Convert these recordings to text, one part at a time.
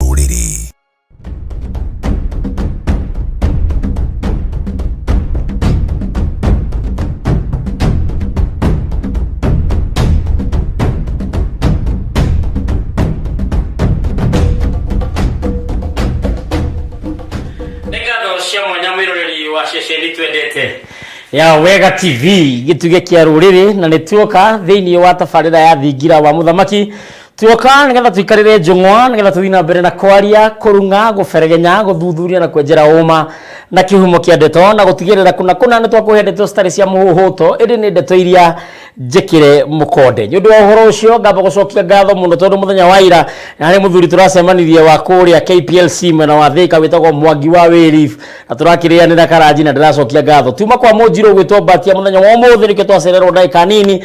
rũrĩrĩ. nĩ ngatho cia mwanya mwĩroreri wa ceceni twendete ya wega tv gĩtuge kĩa rũrĩrĩ na nĩ tuoka thĩinĩ wa tabarĩra ya thingira wa mũthamaki tuoka nigetha tuikarire njung'wa nigetha tuthii na mbere na kwaria kurunga guberegenya guthuthuria na kwenjera uma na kihumo kia ndeto na gutigirira kuna kuna ni twakuhe ndeto citari cia muhuhuto indi ni ndeto iria njikire mukonde ni undu wa uhoro ucio ngamba gucokia ngatho muno tondu muthenya wa ira nari muthuri turacemanirie wa kuria KPLC mwena wa thika witagwo mwangi wa wiri na turakirianira karanji na ndiracokia ngatho tuma kwa munjiru gwitwo mbatia muthenya wa umuthi nikio twacererwo ndagika nini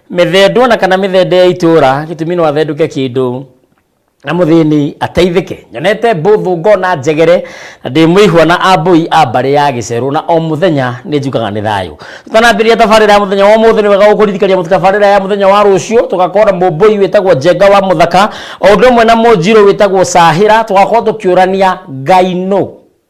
Mĩthendwa na kana mĩthende ya itũra gĩtumi no athendũke kĩndũ na mũthĩni ateithĩke nyonete mbũthũ ngona njegere na ndĩ mũihwa na ambũi a mbarĩ ya gĩcerũ na o mũthenya nĩ njukaga nĩ thayũ tũtanambĩrĩria tabarĩra ya mũthenya wa ũmũthĩ nĩ wega gũkũririkania mũtu tabarĩra ya mũthenya wa rũciũ tũgakorwo na mũmbũi wĩtagwo njenga wa mũthaka o ũndũ ũmwe na mũnjirũ wĩtagwo cahĩra tũgakorwo tũkĩũrania ngai nũ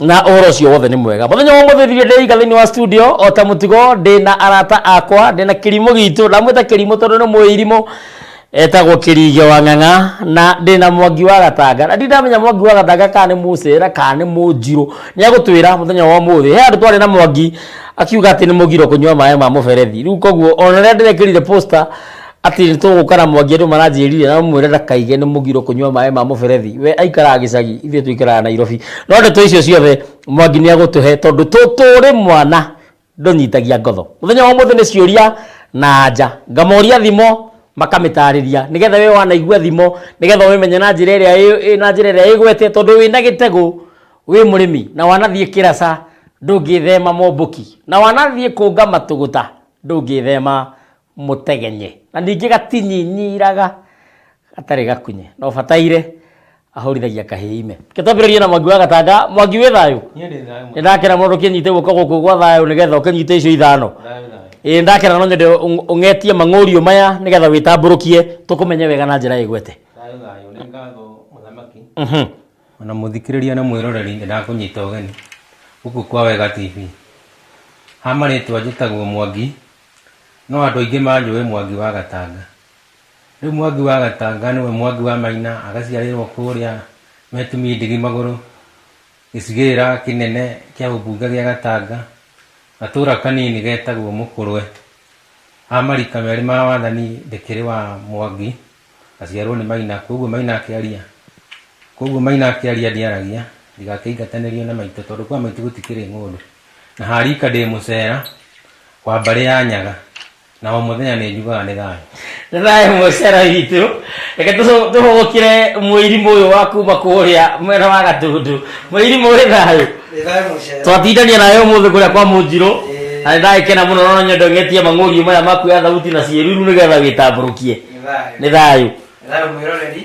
na ũhoro ũcio wothe nĩ mwega mũthenya wa mũthĩ thirio ndĩiga thĩinĩ wa studio o ta mũtugo ndĩ na arata akwa ndĩ na kĩrimũ gitũ ndamwĩta kĩrimũ tondũ nĩ mũirimũ etagwo kĩrige wa ng'ang'a na ndĩ na mwangi wa gatanga na ndindamenya mwangi wa gatanga kana nĩ mũcera kana nĩ mũnjirũ nĩ agũtwĩra mũthenya wa ũmũthĩ he andũ twarĩ na mwangi akiuga atĩ nĩ mũgiro kũnyua maĩ ma mũberethi rĩu koguo ona rĩrĩa ndĩrekĩrire poster Atĩ nĩ tũgũkana Mwangi andũ maranjĩrire na ũmwĩre ndakaige nĩ mũgiro kũnyua maĩ ma mũberethi. We aikaraga gĩcagi ithuĩ tũikaraga Nairobi. No ndeto icio ciothe Mwangi nĩ agũtũhe tondũ tũrĩ mwana ndũnyitagia ngotho. Mũthenya wa ũmũthĩ nĩ ciũria na anja. Ngamoria thimo makamĩtarĩria nĩ getha we wanaigua thimo nĩ getha ũmĩmenye na njĩra ĩrĩa na njĩra ĩrĩa ĩgwete tondũ wĩna gĩtegũ wĩ mũrĩmi na wanathiĩ kĩraca ndũngĩthema mombũki. Na wanathiĩ kũnga matũgũta ndũngĩthema mũtegenye, na ningĩ gatinyinyiraga gatarĩ gakunye. No bataire ahũrithagia kahĩĩ ime. Reke twambĩrĩrie na Mwangi wa Gatanga. Mwangi wĩ thayũ? Niĩ ndĩ thayũ mũno. Nĩ ndakena mũno ũkĩnyite guoko gũkũ gwa thayũ nĩgetha ũkĩnyite icio ithano. Thayũ thayũ. Ĩĩ ndakena no nyende ũng- ũng'etie mang'ũriũ maya nĩgetha wĩtambũrũkie tũkũmenye wega na njĩra ĩgwete. Thayũ thayũ. Nĩ ngatho mũthamaki. Mhm. Ona mũthikĩrĩria na mwĩroreri nĩ ndakũnyita ũgeni gũkũ kwa Wega TV. Ha marĩtwa njĩtagwo Mwangi, no andũ aingĩ manjũĩ Mwangi wa Gatanga. Rĩu Mwangi wa Gatanga nĩwe Mwangi wa Maina, agaciarĩrwo kũrĩa Metumi Ndigi Magũrũ, gĩcigĩrĩra kĩnene kĩa ũmbunge gĩa Gatanga, gatũra kanini getagwo Mũkũrwe. Ha marika merĩ ma wathani ndĩkĩrĩ wa Mwangi. Ngaciarwo nĩ Maina, kwoguo Maina akĩaria. Kwoguo Maina akĩaria ndiaragia, ndigakĩingatanĩrio na maitũ tondũ kwa maitũ gũtikĩrĩ ng'ũndũ. Na ha rika ndĩ mũcera wa mbarĩ ya Nyaga, na o mũthenya nĩ njugaga nĩ thayũ. Nĩ thayũ mũcera witũ. Reke tũcũ- tũhũgũkĩre mũirimũ ũyũ wa kuma kũrĩa mwena wa Gatũndũ. Mũirimũ ũrĩ thayũ? Nĩ thayũ mũcera. twatindania nayo ũmũthĩ kũrĩa kwa mũnjirũ Ĩĩ. na nĩ ndagĩkena mũno no nyende ng'etie mang'ũriũ maya maku ya thauti na ciĩruru nĩgetha wĩtambũrũkie nĩ thayũ thayũ mwĩroreri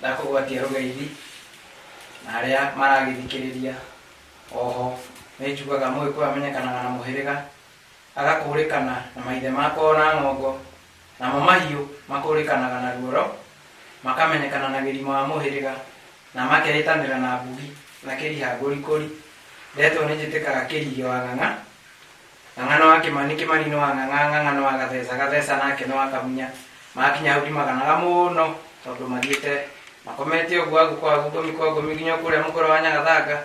na kũgwatia rũgeithi na arĩa maragĩthikĩrĩria oho nĩ njugaga mũgĩkũyũ amenyekanaga na mũhĩrĩga agakũrĩkana na maithe makoo na ng'ongo namo mahiũ makũrĩkanaga na ruoro makamenyekana na gĩrima wa mũhĩrĩga na makeĩtanĩra na mbugi na kĩrihangũrikũri ndetwo nĩ njĩtĩkaga kĩrigĩ wa ng'ang'a Ng'ang'a no akĩmani kĩmani no ang'ang'a ng'ang'a no agathesa gathesa nake no akamunya makinya hau ndimaganaga mũno tondũ mathiĩte makomete ũguo agu kwa agu ngomi kwa ngomi nginya kũrĩa mũkũra wa nyagathanga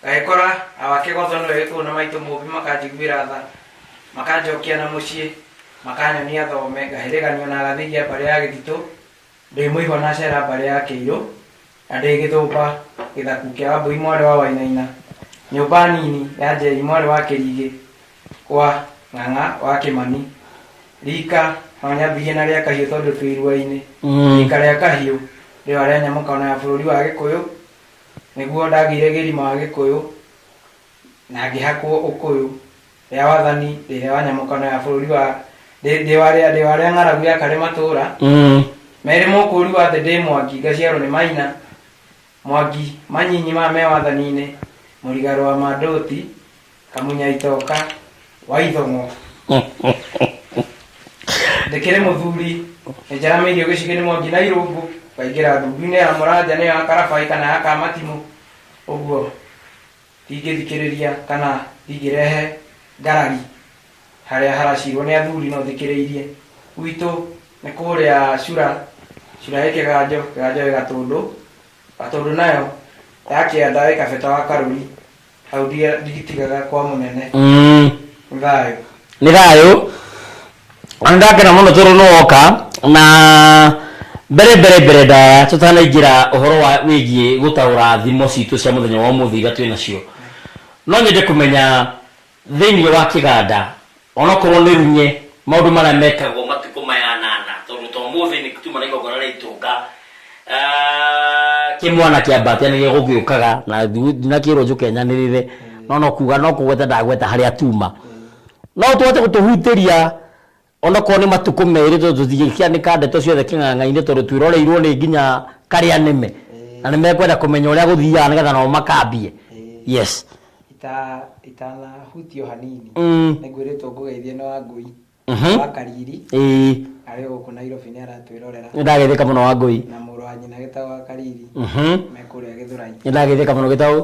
ngagĩkora awakĩgotho nĩwe wĩ kũu na maitũ mũmbi makanjiguĩra tha makanjokia na mũciĩ makanyonia thome ngahĩrĩganio na agathĩgia mbarĩ ya gĩthitũ ndĩ mũigua na cera mbarĩ ya kĩirũ Na ndĩ gĩthũmba, gĩthaku kĩa Wambũi mwarĩ wa Wainaina, nyũmba nini ya Njeri mwarĩ wa Kĩrigĩ kwa Ng'ang'a wa Kĩmani, riika no nyambĩrĩrie na rĩa Kahiũ tondũ twĩ iruainĩ. Riika rĩa Kahiũ rĩo arĩa nyamũkano ya bũrũri wa Gĩkũyũ, nĩguo ndagĩire gĩrima wa Gĩkũyũ na ngĩhakwo Ũkũyũ. ya wathani ĩrĩa wa nyamũkano ya bũrũri wa ndĩ ndĩ wa rĩa ndĩ wa rĩa ng'aragu ya karĩ matũũra Mm. merĩ mũkũũri wa thĩ ndĩ mwangi ngaciarwo nĩ maina mwangi manyinyi ma me wathani-inĩ mũrigaro wa mandũti kamunya itoka wa ithong'o ndĩkĩrĩ mũthuri nĩnjaramĩirio gĩcigĩ-inĩ mwangi na irũngũ ngaingĩra ndundu-inĩ ya mũranja nĩyo ya karabai kana ya kamatimũ ũguo Ndingĩthikĩrĩria kana ndingĩrehe ngarari harĩa haracirwo nĩ athuri no thikĩrĩirie. Gwitũ nĩ kũrĩa cura, cura ĩ kĩganjo, kĩganjo ĩ gatũndũ, gatũndũ nayo yakĩanda ĩ kabeta wa karũri, hau ndigitigaga kwa mũnene. Nĩ thayũ. Nĩ thayũ. Ona ndakena muno toro no oka na mbere mbere mbere ndaya tutanaingira uhoro wa wigie gutaura thimo citu cia muthenya wa umuthi iria twi nacio no nyende kumenya thiini wa kiganda onokorwo ni runye maundu maria mekagwo matuku maya anana tondu to muthi ni tuma na igongona ria itunga kimwana kia mbatia ni gigugiukaga na ndinakirwo njuke nyanirire no no kuga no kugweta ndagweta haria tuma No tũhote gũtũhutĩria onakorwo nĩ matukũ merĩ tondũ tũtingĩkĩanĩka ndeto ciothe kĩng'ang'a-inĩ tondũ twĩroreirwo nĩ nginya karĩa nĩme na nĩ mekwenda kũmenya ũrĩa gũthiaga nĩgetha nao makambie yes Ita- itanahutio hanini Mm. nĩ ngwĩrĩtwo ngũgeithie nĩ wa ngũi Mhm. wa kariri ĩĩ arĩ gũkũ nairobi nĩ aratwĩrorera nĩ ndageithĩka mũno wa ngũi na mũrũ wa nyina gĩtagwa kariri Mhm. me kũrĩa gĩthũrai nĩ ndageithĩka mũno gĩtaũ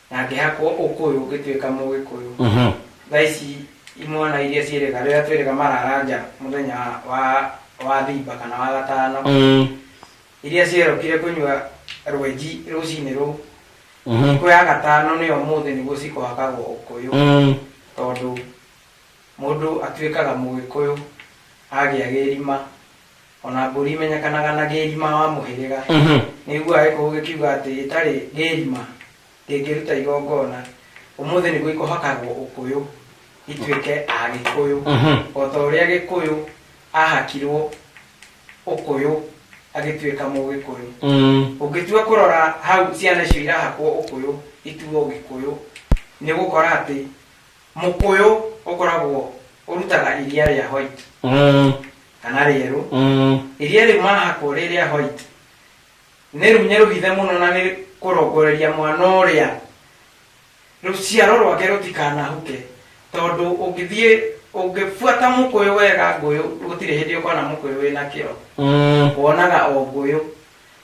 Na ngĩhakwo ũkũyũ ngĩtuĩka Mũgĩkũyũ. Thaa ici imwana iria ciĩrĩga, rĩrĩa twĩrĩga marara nja mũthenya wa wa thiba kana wa gatano, iria cierokire kũnyua rwenji rũcinĩ rũu, thikũ ya gatano nĩ ũmũthĩ nĩguo cikũhakagwo ũkũyũ, tondũ mũndũ atuĩkaga Mũgĩkũyũ agĩa gĩthima. ona mbũri imenyekanaga na gĩĩrima wa mũhĩrĩga Mhm. nĩiguaga gĩkũgũ gĩkiuga atĩ ĩtarĩ gĩĩrima ndĩngĩruta igongona ũmũthĩ nĩguo ikũhakagwo ũkũyũ ituĩke a gĩkũyũ Mhm. o ta ũrĩa gĩkũyũ ahakirwo ũkũyũ agĩtuĩka mũgĩkũyũ Mm. ũngĩtua kũrora hau ciana icio irahakwo ũkũyũ ituo gĩkũyũ nĩ ũgũkora atĩ Mũkũyũ ũkoragwo ũrutaga iria rĩa white Mm, kana rĩerũ. mm, Iria rĩu mahakwo rĩ rĩa white nĩ runya rũhithe mũno na nĩ kũrongoreria mwana ũrĩa rũciaro rwake rũtikanahuke tondũ ũngĩthiĩ ũngĩbuata mũkũyũ wega ngũyũ gũtirĩ hĩndĩ ũkona mũkũyũ wĩna kĩro mm, wonaga o ngũyũ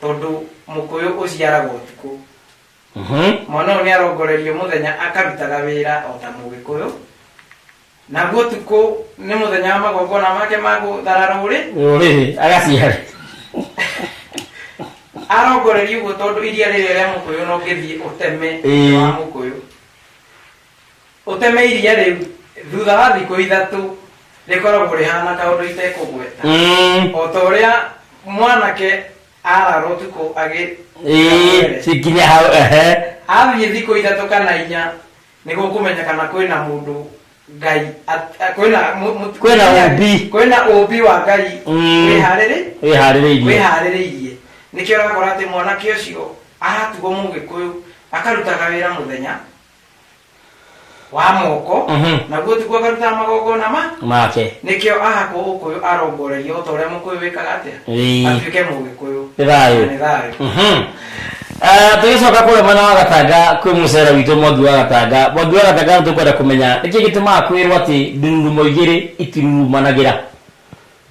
tondũ mũkũyũ ũciaraga ũtukũ Mwana ũyũ nĩarongoreirio mũthenya akarutaga wĩra o ta Mũgĩkũyũ, naguo ũtukũ nĩ mũthenya wa magongona make ma gũthara rũrĩ. Rũrĩrĩ, agaciarĩ. Arongoreria ũguo tondũ iria rĩrĩa rĩa Mũkũyũ no ngĩthiĩ ũteme Ĩĩ. wa Mũkũyũ. Ũteme iria rĩu, thutha wa thikũ ithatũ rĩkoragwo rĩhana kaũndũ itekũgweta. Mm. O ta ũrĩa mwanake arara ũtukũ agĩ ĩĩ cikinya hau ehe athiĩ thikũ ithatũ kana inya nĩguo kũmenya kana kwĩna mũndũ ngai at- a- kwĩna mũ- mũ- Kwĩna ũmbi. kwĩna ũmbi wa ngai Mm. wĩharĩrĩ wĩharĩrĩirie wĩharĩrĩirie nĩkĩo ũrakora atĩ mwanake ũcio aratugo mũgĩkũyũ akarutaga wĩra mũthenya wa moko Mhm. naguo tiguo akarutaga magongona ma make nĩkĩo ahakwo ũkũyũ arongorerio ta ũrĩa mũkũyũ wĩkaga atĩa Ĩĩ. atuĩke mũgĩkũyũ Nĩ thayũ. Na nĩ thayũ Mhm. Ah, tũgĩcoka kũrĩa mwena wa gatanga kwĩ mũcera witũ mwangi wa gatanga mwangi wa gatanga nĩ tũkwenda kũmenya nĩkĩ gĩtũmaga kwĩrwo atĩ ndururu moigĩrĩ itirurumanagĩra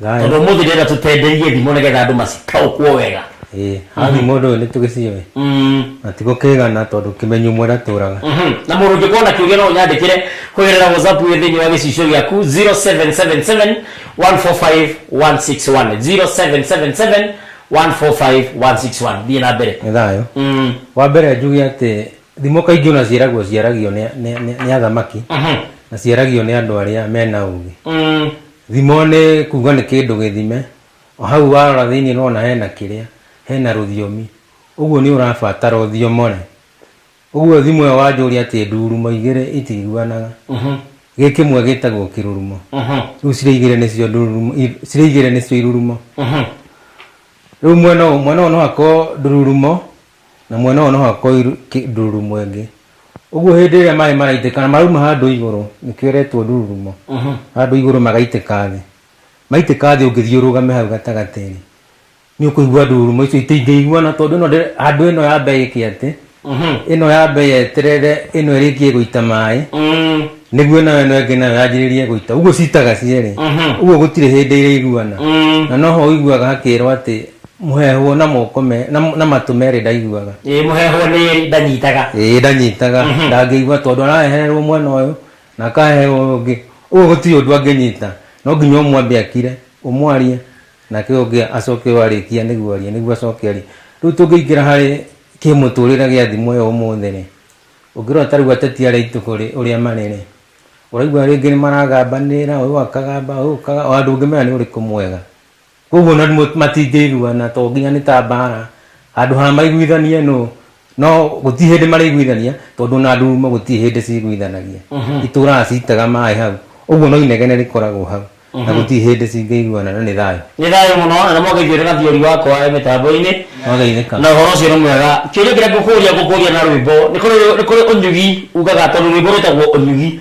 Thayũ. tondå må thä ndä tå tenderirie thimo nä getha andå macitaåkwo wega Ĩĩ, hathi mũndũ ũyũ nĩ tũgĩciũĩ Mm. na ti gũkĩgana tondũ kĩmenyu ũmwe ndatũraga Mhm. na må rå ngä korwo na kä å gä no å nyandä kä re hå gerera whatsapp ä thä inä wa gä cicio gä aku 0777 145 161 0777 145 161 thiä na mbere nĩ thayũ Mm. wa mbere njuge atĩ thimo kaingĩ ona ciaragwo ciaragio nĩ- nĩ nĩ- nĩ athamaki Mhm. na ciaragio nĩ andũ arĩa mena ũgĩ Mm. Thimo nĩ kuuga nĩ kĩndũ gĩthime. O hau warora thĩinĩ nĩ ũrona hena kĩrĩa, hena rũthiomi. Ũguo nĩ ũrabatara ũthiomore. Ũguo thimo ĩyo wanjũria atĩ ndurumo igĩrĩ itiguanaga, gĩ kĩmwe gĩtagwo kĩrurumo. Rĩu cirĩ igĩrĩ nĩcio ndururumo, cirĩ igĩrĩ nĩcio irurumo. Rĩu mwena ũyũ, mwena ũyũ no hakorwo ndururumo Na mwena ũyũ no hakorwo ndũrurumo ĩngĩ ũguo hĩndĩ ĩrĩa maĩ maraitĩka na marauma handũ igũrũ nĩkĩo ĩretwo ndũrurumo mhm. handũ igũrũ magaitĩka thĩ maitĩka thĩ ũngĩthiĩ ũrũgame hau gatagatĩ-inĩ nĩ ũkũigua ndũrurumo icio itingĩiguana tondũ ĩno handũ ĩno ya mbere ĩkĩ atĩ mhm. ĩno ya mbere yeterere ĩno ĩrĩkie gũita maĩ mm. nĩguo nayo ĩno ĩngĩ nayo yanjĩrĩrie gũita ũguo citaga cierĩ mhm. ũguo gũtirĩ hĩndĩ irĩiguana mm. na noho ũiguaga hakĩrwo atĩ Mũheehwo na moko me, na, na matũ merĩ ndaiguaga. Ĩĩ mũheehwo nĩ ĩrĩ ndanyitaga. Ĩĩ ndanyitaga. Mhm. Ndangĩigua tondũ araheherwo mwena ũyũ na akaheherwo ũyũ ũngĩ. Ũyũ gũtirĩ ũndũ angĩnyita. No nginya ũmwe ambe akire, ũmwarie, nake ũyũ ũngĩ acoke ũyũ arĩkia nĩguo arie, nĩguo acoke arie. Rĩu tũngĩingĩra harĩ kĩmũtũrĩre gĩa thimũ ĩyo ũmũthĩ-rĩ, ũngĩrora ta rĩu ateti arĩa aitũ-rĩ, ũrĩa marĩ-rĩ, ũraigua rĩngĩ nĩmaragambanĩrĩra, ũyũ akagamba, ũyũ ũkaga, o handũ ũngĩmenya nĩ ũrĩkũ mwega. Koguo ona matingĩiguana to nginya nĩ ta mbaara, handũ ha maiguithanie nũ, no gũtirĩ hĩndĩ marĩiguithania tondũ ona ndururumo gũtirĩ hĩndĩ ciguithanagia. Itũũraga citega maaĩ hau. Ũguo no inegene rĩkoragwo hau na gũtirĩ hĩndĩ cingĩiguana na nĩ thayũ. Nĩ thayũ mũno na nĩ mwageithio nĩ Gathiori wakwa e mĩtambo-inĩ. Mwageithĩka. Na ũhoro ũcio nĩ mwega. Kĩũria kĩrĩa ngũkũria ngũkũria na rwĩmbo. Nĩ kũrĩ ũnyugi ugaga tondũ rwĩmbo rwĩtagwo ũnyugi.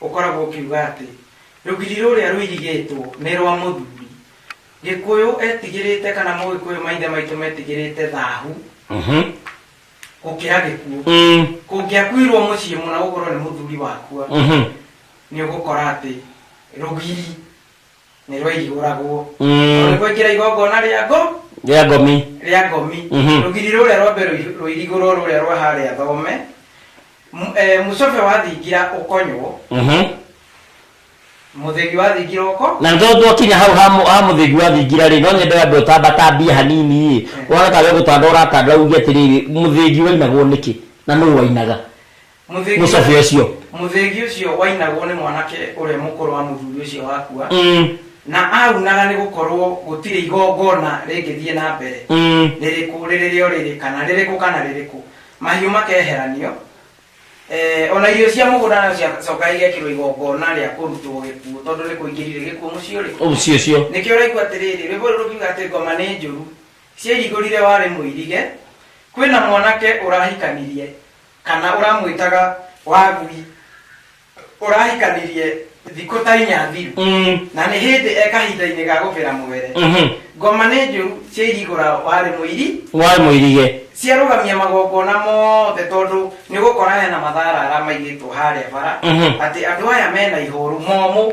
Ũkoragwo ũkiuga atĩ rũgiri rũrĩa rũirigĩtwo nĩ rwa mũthuri. Gĩkũyũ etigĩrĩte kana Mũgĩkũyũ maithe maitũ metigĩrĩte thahu gũkĩra gĩkuũ. Kũngĩakuirwo mũciĩ mũna ũgũrwo nĩ mũthuri wakua nĩ ũgũkora atĩ rũgiri. nĩ rwairigũragwo Mm. tondũ kwaingĩra igongona rĩa ngo rĩa ngomi rĩa ngomi Mhm. rũgiri rũrĩa rwa mbere rũi- rũirigũrwo rũrĩa rwa harĩa thome M- eh, mũcobe wathingira ũkonywo Mhm. mũthegi wathingira ũko na nĩ twakinya hau ha mũ- ha mũthĩgi wa thingira rĩ no nyende andũ ũtambatambia hanini ĩ ũrona kaga gũtanda ũratanda uge atĩrĩrĩ mũthĩgi wainagwo nĩkĩ na nũ wainaga Mũthĩgi- mũcobi ũcio mũthĩgi ũcio wainagwo nĩ mwanake ũrĩa mũkũrũ wa mũthuri ũcio wakua Mm, na aunaga nĩ gũkorwo gũtirĩ igongona rĩngĩthiĩ na mbere mm. rĩrĩkũ rĩrĩ rĩo rĩrĩ kana rĩrĩkũ kana rĩrĩkũ mahiũ makeheranio Eh, ona irio cia mũgũnda nacio ciacoka igekĩrwo igongona rĩa kũrutwo gĩkuũ tondũ nĩ kũingĩrire gĩkuũ mũciĩ ũrĩ ũcio ũcio nĩkĩo ũraigua atĩrĩrĩ rwĩmbo rũrũ rũkiuga atĩ ngoma nĩ njũru ciairigũrire warĩ mũirige kwĩna mwanake ũrahikanirie Kana ũramwĩtaga wagui ũrahikanirie thikũ ta inya thiru Mm. na nĩ hĩndĩ e kahinda-inĩ ga gũbĩra mwere Mhm. ngoma nĩ njũru ciairigũra warĩ mũiri warĩ mũirige ciarũgamia magongona mothe tondũ nĩ gũkora hena matharara maigĩtwo harĩa bara Mhm. atĩ andũ aya mena ihũru momũ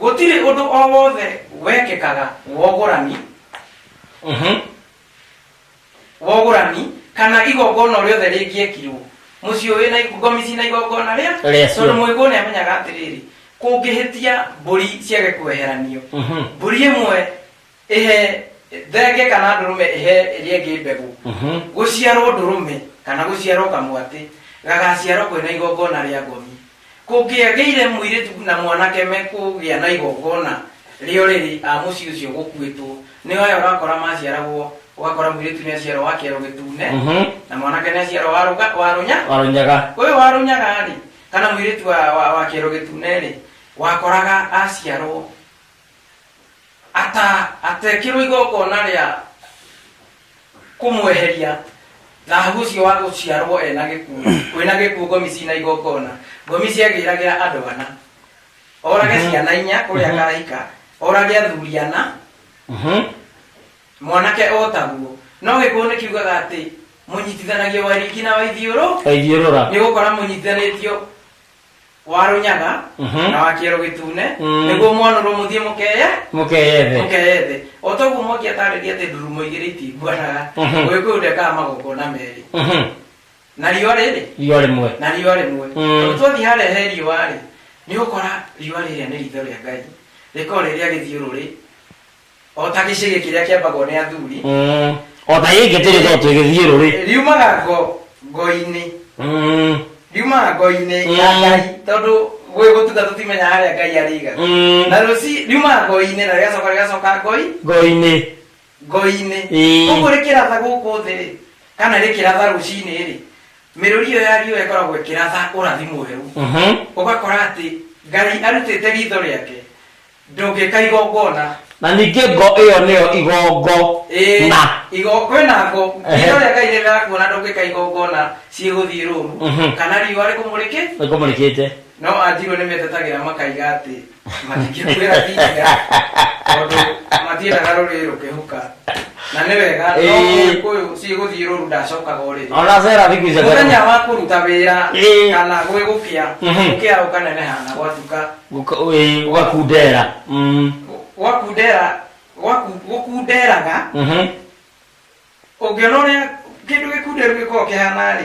Gũtirĩ ũndũ o wothe wekĩkaga wogũrani, Mhm. wogũrani, kana igongona o rĩothe rĩngĩekirwo mũciĩ ũyũ na igo- ngomici na igongona rĩa Rĩa cio. tondũ mũigũ nĩ amenyaga atĩrĩrĩ kũngĩhĩtia mbũri ciage kweheranio Mhm. mbũri ĩmwe Ĩhe thenge kana ndũrũme ĩhe ĩrĩa ĩngĩ mbegũ. Gũciarwo ndũrũme kana gũciarwo kamwatĩ gagaaciarwo kwĩ na igongona rĩa ngothi. Kũngĩagĩire mũirĩtu na mwanake mekũgĩa na igongona rĩo rĩrĩ a mũciĩ ũcio gũkuĩtwo, nĩo aya ũrakora maaciaragwo, ũgakora mũirĩtu nĩ aciarwo wa kĩero gĩtune na mwanake nĩ aciarwo wa rũga- wa rũnya- Wa rũnyaga. ũyũ wa rũnyaga-rĩ, kana mũirĩtu wa- wa- wa kĩero gĩtune-rĩ, wakoraga aciarwo ata atekirwo igongona rĩa kũmweheria thahabu ũcio wa gũciarwo ena gĩkuũ kwĩna gĩkuũ ngomi cina igongona ngomi ciagĩragĩra andũ ana orage ciana inya kũrĩa karahika orage athuri ana Mhm. mwanake o taguo no gĩkuũ nĩ kiugaga atĩ mũnyitithanagia waringi na waithiũrũ Waithiũrũra. nĩ gũkora mũnyitithanĩtio wa rũnyaga Mhm. na wa kĩero gĩtune Mm. nĩguo mwanũrwo mũthiĩ mũkeye mũkeyethe mũkeye thĩ o toguo mwangi atarĩria atĩ ndurumo igĩrĩ itinguanaga Mhm. ũgĩkũyũ ndekaga magongona merĩ Mhm. na riũa rĩrĩ riũa rĩmwe na riũa rĩmwe Mm. tondũ twathiĩ harĩa he riũa-rĩ nĩ ũkora riũa rĩrĩa nĩ ritho rĩa ngai rĩkorwo rĩrĩa gĩthiũrũrĩ O ta gĩcĩgĩ kĩrĩa kĩambagwo nĩ athuri. Mm. o ta gĩkĩ tũrĩ no tũgĩthiĩ rũrĩ Riumaga ngo ngo-inĩ. Mm. Riumaga ngo-inĩ Mm. ya Ngai. Tondũ gwĩ gũtuga tũtimenyaga harĩa Ngai arĩiga. Mm. Na rũci riumaga ngo-inĩ na rĩgacoka rĩgacoka ngoi ngo-inĩ ngo-inĩ. Ĩĩ. Ũguo rĩkĩratha gũkũ thĩ rĩ, kana rĩkĩratha rũcinĩ rĩ, mĩrũri ĩyo ya riũa ĩkoragwo ĩkĩratha ũrathi mwerũ. Mhm. Ũgakora atĩ Ngai arutĩte ritho rĩake Ndũngĩka igongona. na ningĩ ngo ĩyo nĩyo igongo Ĩĩ, na igo- kwĩna ngo Ehe. iria rĩa ngai rĩrakuona ndũngĩka igongona ciĩgũthiĩ rũru Mhm. kana riũa rĩkũmũrĩke nĩkũmũrĩkĩte no anjirwo nĩ metetegĩra makaiga atĩ matingĩkwĩra thinga tondũ matiendaga rũrĩrĩ rũkĩhuka na nä wega no Ĩĩ. kå yå ciä gå thiä rå ru ndacokaga å rä ona cera thiku icio muthenya wa kuruta wira Ĩĩ. kana gwi gukia Mhm. gukia ukaneneha na gwatuka gukakundera gwakundera gwaku- gukunderaga ungiona uria kindu gikunderu gikoragwo kihana ri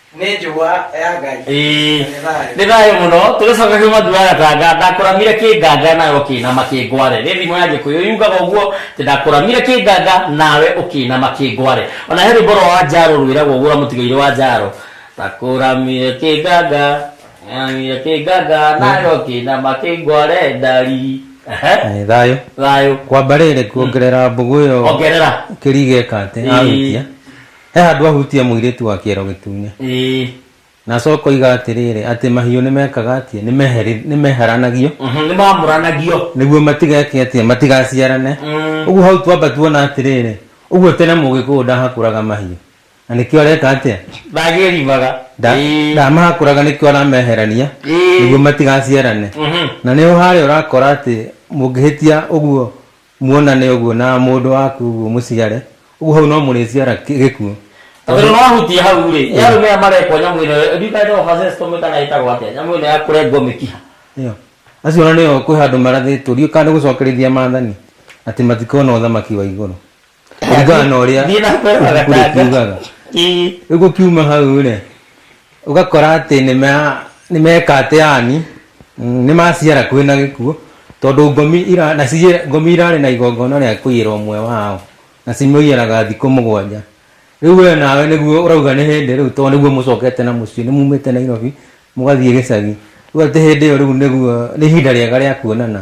nĩ njũgwa ya ngai Ĩĩ. Nĩ thayũ. nĩ thayũ mũno tũgĩcoka kiuma thuaga tanga ndakũramire kĩnganga nawe ũkĩinama kĩngware rĩ thimo ya gĩkũyũ yugaga ũguo atĩ ndakũramire kĩnganga nawe ũkĩinama kĩngware ona he rwĩmbo rwa njaro rwĩragwo ũguo mũtigaire wa njaro ndakũramire kĩnganga ndakũramire kĩnganga nawe ũkĩinama kĩngware ndari Ehe, Nĩ thayũ thayũ kwamba rĩrĩ kuongerera mbũgũ ĩyo ongerera kĩrigeka atĩ Ĩĩ. ahutia He handũ ahutia mũirĩtu wa kĩero gĩtune. Ĩĩ. Na acoka oiga atĩrĩrĩ, atĩ mahiũ nĩ mekaga atĩa? Nĩ meheri- nĩ meheranagio Mhm, Nĩ mamũranagio. nĩguo matigeke atĩa? Matigaciarane. Mm. Ũguo hau twamba tuona atĩrĩrĩ, ũguo tene mũgĩkũyũ ndahakũraga mahiũ. Na nĩkĩo areka atĩa? Ndagĩrimaga. Nda- Ĩĩ. Ndamahakũraga nĩkĩo arameherania Ĩĩ. nĩguo matigaciarane. Mhm. Na nĩho harĩa ũrakora atĩ mũngĩhĩtia ũguo Muonane ũguo na mũndũ waku ũguo mũciare. Ũguo hau no mũrĩciara kĩ- gĩkuũ. Tondũ no ahutia hau rĩ, nĩ arũme aya marekwo nyamũ ĩno, ndiũĩ kana ĩtagwo vasectomy kana ĩtagwo atĩa, nyamũ ĩno ya kũrengwo mĩkiha. Ĩyo. Acio ona nĩo kwĩ handũ marathĩtwo ndiũĩ kana nĩ gũcokerithia maathani atĩ matikona ũthamaki wa igũrũ. Kũringana na ũrĩa Thiĩ na mbere ibuku rĩkiugaga. ndagĩtarĩ. Ii. Rĩu gũkiuma hau rĩ, Ũgakora atĩ nĩ meka atĩ yani nĩ maciara kwĩ na gĩkuũ tondũ ngomi irarĩ na igongona rĩa kũiyĩra ũmwe wao na cimũiyaraga thikũ mũgwanja. Rĩu we nawe nĩguo ũrauga nĩ hĩndĩ rĩu tondũ nĩguo mũcokete na mũciĩ, nĩ mumĩte Nairobi mũgathiĩ gĩcagi. Rĩu atĩ hĩndĩ ĩyo rĩu nĩguo nĩ ihinda rĩega rĩa kuonana.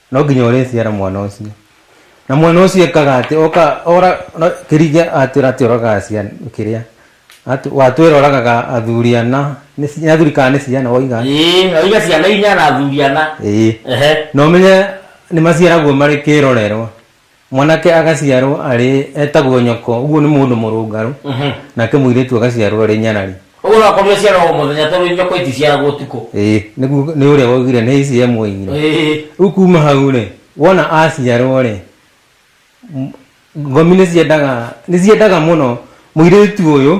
no nginya ũrĩciara mwana ũcio na mwana ũcio ekaga atĩ oka ora no- kĩringe atwĩra atĩ ũragaga ciana kĩrĩa Atw- watwĩra ũragaga athuri ana nĩ ci- nĩ athuri kana nĩ ciana waiga ĩĩ oiga ciana inya na athuri ana ĩĩ ehe na ũmenye nĩ maciaragwo marĩ kĩrorerwa Mwanake agaciarwo arĩ etagwo nyoko, ũguo nĩ mũndũ mũrũngarũ, nake mũirĩtu agaciarwo arĩ nyarari. Ũguo no akorirwo aciaragwo o mũthenya tondũ nyoko iticiaragwo ũtukũ. Ĩĩ, nĩguo nĩ ũrĩa woigire nĩ ici emuoigire. Ĩĩ. Rĩu kuuma hau-rĩ, wona aciarwo-rĩ, ngomi nĩ ciendaga, nĩ ciendaga mũno mũirĩtu ũyũ.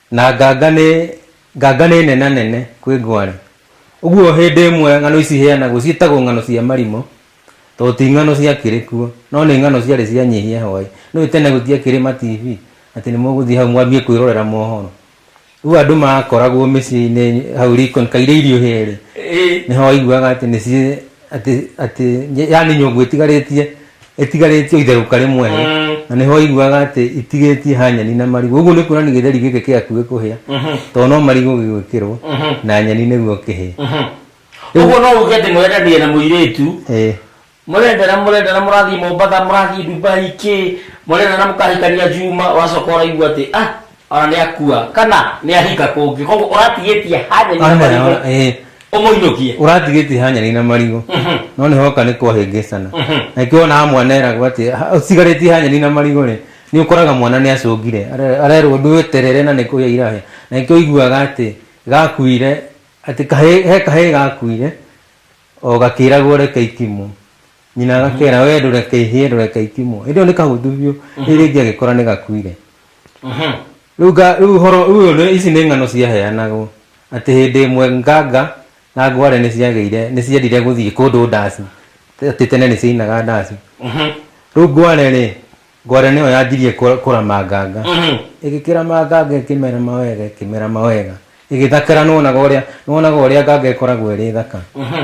Na nganga nĩ nganga nĩ nenanene kwĩ ngwarĩ. Ũguo hĩndĩ ĩmwe ng'ano ici iheanagwo ciĩtagwo ng'ano cia marimũ tondũ ti ng'ano ciakĩrĩ kuo no nĩ ng'ano ciarĩ cia nyihia hwaĩ. Nĩũĩ tene gũtiakĩrĩ ma TV atĩ nĩmũgũthiĩ hau mwambie kwĩrorera mohoro. Rĩu andũ makoragwo mĩciĩ-inĩ hau riko kaire irio ihĩe-rĩ, nĩho waiguaga atĩ nĩciĩ... atä atä yani nyångå ĩtigarĩtie ĩtigarĩtie itherũka rĩmwe Mm. na nä ho aiguaga atä itigĩtie ha nyeni na marigå å guo nä kuona nä gä theri gä kä kä aku gä kå hä a tondå no marigå gä gwä kä rwo na nyeni nä guo kä hä Ũguo no uge atĩ mwendanie na mũirĩtu mũrendana mũrendana mũrathiĩ Mombasa mũrathiĩ Dubai kĩ mũrendana mũkahikania Juma ũracoka ũraigua atĩ ah Ona nĩakua kana nĩahika kũngĩ koguo ũratigĩtie hanyeni na marigũ Eh, ũmũinũkie ũratigĩtie hanyarĩ na marigũ Mhm. no nĩ hoka nĩ kwahĩngĩcana Mhm. na kĩona mwana eragwo atĩ "Ha- ũtigarĩtie hanyarĩ na marigũ rĩ nĩ ũkoraga mwana nĩ acũngire Are- arerwo ndwĩterere na nĩ kũhĩa irahĩa na nĩkĩo iguaga atĩ gakuire atĩ kahĩ- he kahĩ gakuire o gakĩragwo reke ikimũ Nyina agakeera, wee ndũreke ihĩe, ndũreke itimwo. Hĩndĩ ĩyo nĩ kahũtu biũ, rĩu rĩngĩ agĩkora nĩ gakuire. Mhm. Rĩu nga- rĩu ũhoro ũyũ nĩ- ici nĩ ng'ano ciaheanagwo atĩ hĩndĩ ĩmwe nganga na ngware nĩ ciagĩire nĩ ciendire gũthiĩ kũndũ ndaci atĩ tene nĩ ciainaga ndaci Mhm. rĩu ngware rĩ ngware nĩyo yanjirie kũ- kũrama nganga Mhm. ĩgĩkĩrama nganga ĩkĩmerama wega ĩkĩmerama wega ĩgĩthakara nĩwonaga ũrĩa nĩwonaga ũrĩa nganga ĩkoragwo ĩrĩ thaka Mhm.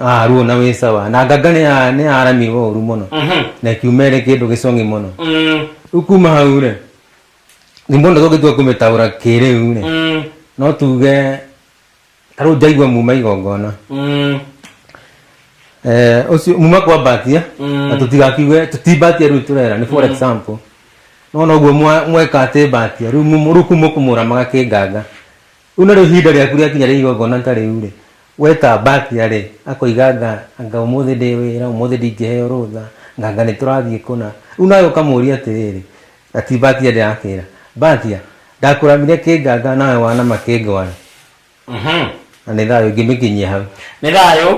Ah, ruo na wĩ sawa na nganga nĩ ya- nĩ yaramirwo ũru mũno Mhm. na ĩkiuma ĩrĩ kĩndũ gĩcong'i mũno Mm, rĩu kuma hau rĩ nĩ mũndũ tũngĩtua kũmĩtaũra kĩrĩu rĩ mm, no tuge ta rĩu njaigua muma igongona mm, Eh, ũcio muma kwambatia Mm. na tũtigakiuge tũtimbatia rĩu tũrera nĩ for example no noguo mwa- mweka atĩ mbatia rĩu mumu- rĩu kuma kũmũramaga kĩnganga Rĩu narĩo ihinda rĩaku rĩakinya rĩa igongona ta rĩu-rĩ, wee ta Batia-rĩ, akoiga anga, anga ũmũthĩ ndĩ wĩra, ũmũthĩ ndingĩheo rũtha, anga, anga nĩtũrathiĩ kũna. Rĩu nawe ũkamũũria atĩrĩrĩ, na ti Batia ndĩrakĩra, Batia, ndakũramire kĩnganga nawe wanama kĩngwa-rĩ, na nĩ thayũ ingĩmĩkinyia hau. Nĩ thayũ.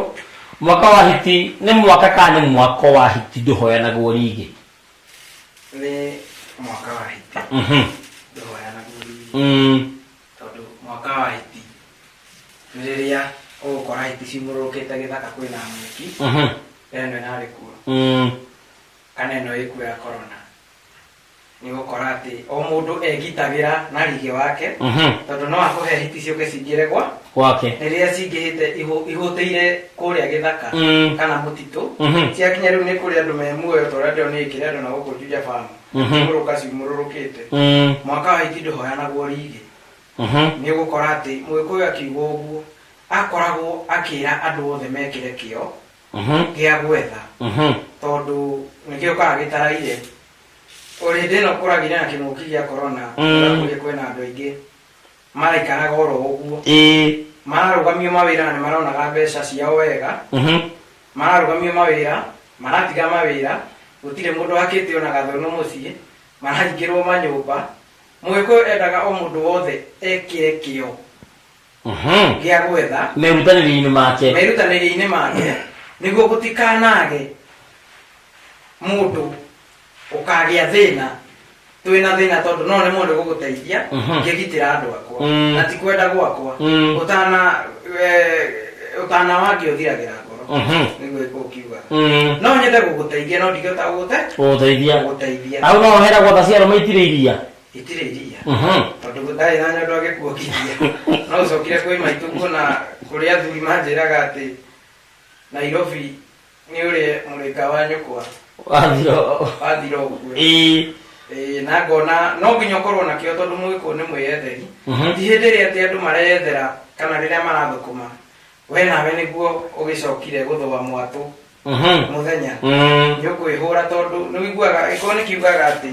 Mwaka wa hiti nĩ mwaka kana nĩ mwako wa hiti ndũhoyanagwo rĩngĩ. nĩ mwaka wa hiti Mhm. ndĩhoya na guo riri Mm. tondũ mwaka wa hiti nĩ rĩrĩa ũgũkora hiti ciumũrũrũkĩte gĩthaka kwĩna mwĩki Mhm. ĩno ĩnarĩ kuo Mm. kana ĩno ĩkuo ya korona nĩ gũkora atĩ o mũndũ egitagĩra na rige wake Mhm. tondũ no akũhe hiti ciũke cingĩre gwa gwake rĩrĩa cingĩhĩte ihũ- ihũtĩire kũrĩa gĩthaka Mm. kana mũtitũ Mhm. ciakinya rĩu nĩ kũrĩ andũ me muoyo ta ũrĩa ndĩrona nĩ ngĩrĩ andũ na gũkũ njuja famu Mhm. kũrũka ciumũrũrũkĩte Mm, mwaka wa hĩti ndũhoyanagwo rigi mhm. nĩ ũgũkora atĩ mũgĩkũyũ akiuga ũguo akoragwo akĩra andũ othe mekĩre kĩo Mhm, gĩa gwetha mhm. tondũ nĩkĩo kaga gĩtaraire o hĩndĩ ĩno kũragire na kĩng'ũki gĩa korona Mm. kũrĩa kwĩna andũ aingĩ Maraikaraga o ro ũguo. Ĩĩ. Mararũgamio mawĩra na nĩ maronaga mbeca ciao wega. Mhm. Mararũgamio mawĩra, maratiga mawĩra, gũtirĩ mũndũ ũhakĩte o na gathũnũ mũciĩ, marahingĩrwo manyũmba. Mũgĩkũyũ endaga o mũndũ wothe ekĩre kĩo Mhm. gĩa gwetha. Merutanĩria-inĩ make. Merutanĩria-inĩ make nĩguo gũtikanaage mũndũ ũkagĩa thĩna twĩ na thĩna tondũ no nemwo nĩ gũgũteithia Mhm. ngĩgitĩra andũ akwa Mm. na ti kwenda gwakwa Mm. ũtana eh, ũtana wangĩ ũthiragĩra ngoro Mhm. nĩguo ĩkwo ũkiuga Mm. no nyende gũgũteithia no ndingĩhota gũgũte ũgũteithia gũgũteithia hau no ũhera gwatha ciaro maitire iria itirĩ iria Mhm. tondũ gũtarĩ na nyondo agĩkuokithia no ũcokire kwĩ maitũ kuona kũrĩa athuri manjĩraga atĩ nairobi nĩ ũrĩ mũrĩka wa nyũkwa wathira wathira ũkue ĩĩ Ĩĩ, na ngona no nginya ũkorwo nakĩo tondũ mũgĩkũũ nĩ mwĩyetheri Mhm. ti hĩndĩ ĩrĩa atĩ andũ mareyethera kana rĩrĩa marathũkũma we nawe nĩguo ũgĩcokire gũthũa mwatũ Mhm. mũthenya Mm. nĩ ũkwĩhũra tondũ nĩ ũiguaga ĩkorwo nĩ kiugaga atĩ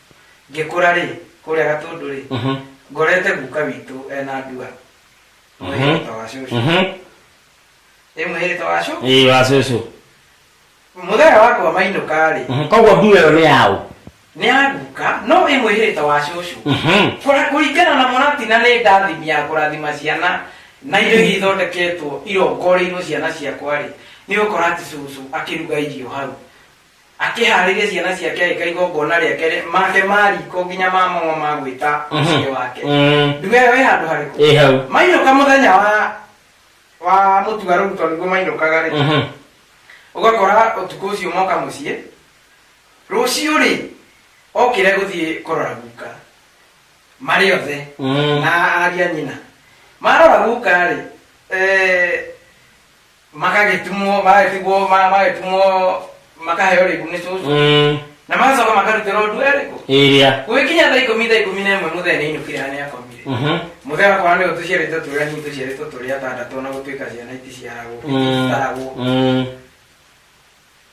ngĩkũra rĩ kũrĩa gatũndũ rĩ Mhm. ngorete guka witũ ena ndua Mhm. mwĩhĩta wa cũcũ Mhm. ĩ mwĩhĩta wa cũcũ Ĩĩ wa cũcũ. mũthenya wakwa mainũka rĩ Mhm. Koguo ndua ĩyo nĩ yaũ? nĩ aguka no ĩ mwĩhĩta wa cũcũ Mhm. Kũra- kũringana na mũratina nĩ ndathimi ya kũrathima ciana na indo iria ithondeketwo irongoreirwo ciana ciakwa rĩ nĩ ũkora atĩ cũcũ akĩruga irio hau akĩhaarĩria ciana ciake agĩka igongona rĩake rĩ- make ma riko nginya ma mang'o ma gwĩta mũciĩ wake Mm. nduga ĩyo ĩ handũ harĩkũ ĩ hau mainũka mũthenya wa wa mũtua rĩu tondũ nĩguo mainũkaga rĩ Mhm. ũgakora ũtukũ ũcio moka mũciĩ rũciũ rĩ okire gũthiĩ kũrora guka marĩ othe Mm. na aria nyina marora guka rĩ eh, makagĩtumwo magagĩtigwo ma- magagĩtumwo makaheo rĩbu nĩ cũcũ Mm, na magacoka makarutĩrwo ũndũ erĩkũ ĩrĩa gũgĩkinya thaa ikũmi thaa ikũmi na ĩmwe mũthee nĩ inũkire hana yakomire Mhm. mũthee wakwa nĩ ũtũciarĩtwo tũrĩa nini tũciarĩtwo tũrĩa atandatũ na gũtuĩka ciana iti ciaragwo Mm, citaragwo mm,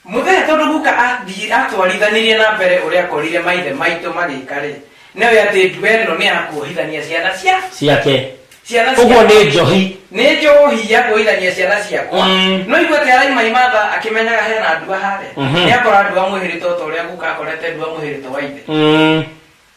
Mũthenya tondũ guka athiĩ atwarithanirie na mbere ũrĩa akorire maithe maitũ magĩka-rĩ, nĩoĩ atĩ ndue ĩno nĩ ya kuohithania ciana cia ciake ciana ũguo ciakwa. nĩ njohi Nĩ njohi ya kuohithania ciana ciakwa. Mm. No igua atĩ araimaimatha akĩmenyaga hena ndua harĩa. Mhm. Nĩakora ndua mwĩhĩrĩte o ta ũrĩa guka akorete ndua mwĩhĩrĩte wa ithe. Mm.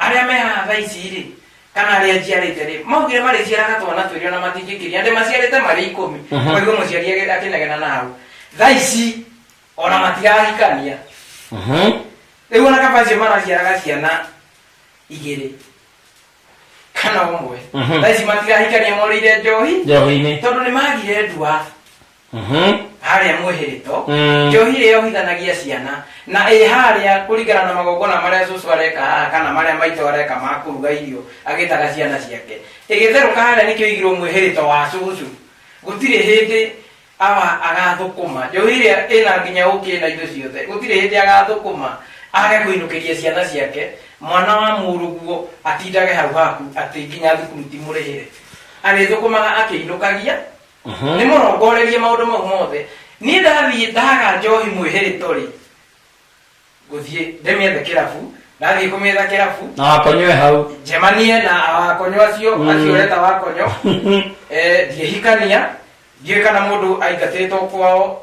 Arĩa me haha thaa ici-rĩ, kana arĩa njiarĩte-rĩ, maugire marĩciaraga twana twĩrĩ ona matingĩkĩria, ndĩmaciarĩte marĩ ikũmi, ũkaigua mũciari agĩ- akĩnegena na hau. Thaa ici, ona matirahikania. Rĩu ona kaba acio maraciaraga ciana igĩrĩ, kana ũmwe, thaa ici matirahikania morĩire njohi, Njohi-inĩ. tondũ nĩmagire ndua. Mhm. harĩa mwĩhĩrĩto Mm. njohi ĩrĩa yohithanagia ciana na ĩ harĩa kũringana na magongona marĩa cũcũ areka haha kana marĩa maitũ areka ma kũruga irio agĩtaga ciana ciake ĩgĩtherũka harĩa nĩkĩo igirwo mwĩhĩrĩto wa cũcũ gũtirĩ hĩndĩ awa agathũkũma njohi ĩrĩa ĩna nginya ũkĩ na indo ciothe gũtirĩ hĩndĩ agathũkũma age kũinũkĩria ciana ciake mwana wa mũrũguo atindage hau haku atĩ nginya thukuru timũrĩhĩre arĩthũkũmaga akĩinũkagia nĩ mũrongorerie maũndũ mau mothe niĩ ndathiĩ ndaga njohi mwĩhĩrĩto rĩ ngũthiĩ ndĩmĩethe kĩrabu ndathiĩ kũmĩetha kĩrabu na wakonywe hau njemanie na awakonyo acio acio ũreta wakonyo eh, ndiehikania ndiũĩ kana mũndũ aingatĩtwo kwao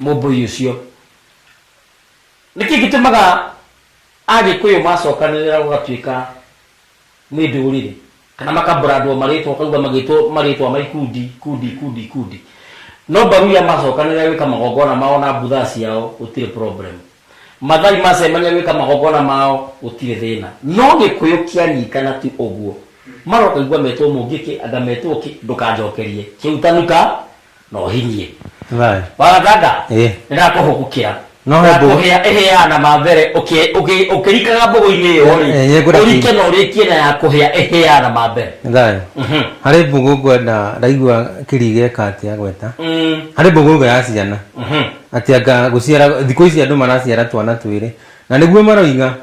Mũmbũi ũcio. Nĩkĩ gĩtũmaga Agĩkũyũ macokanĩrĩra gũgatuĩka nĩ ndũrĩrĩ kana makabrandwo marĩtwa ũkaigua magĩtwo marĩtwa ma ikundi, ikundi, ikundi, ikundi. No Mbaruya macokanĩrĩra gwĩka magongona mao na Buthaa ciao gũtirĩ problem. Mathai macemania gwĩka magongona mao gũtirĩ thĩna. No Gĩkũyũ kĩanyitana tu ũguo. Marokaigua metwo Mũngĩkĩ, anga metwo kĩ, ndũkanjokerie. Kĩu tanuka, na ũhinyie Right. wagatanga Eh. nĩndakũhũgũkĩra No he mbũgũ- Ndakũhĩa- ĩhĩaga na mambere ũkĩ- ũkĩ- ũkĩrikaga mbũgũ-inĩ ĩyo Eh, eh, rĩ ngũra ũrike ki- na ũrĩkie na ya kũhĩa ĩhĩaga na mambere Right. Mhm. harĩ mbũgũ ngwenda ndaigua kĩrige katia gweta Mm, harĩ mbũgũ ĩga ya ciana mhm. atĩ anga gũciara thikũ ici andũ maraciara twana twĩrĩ na nĩguo maroiga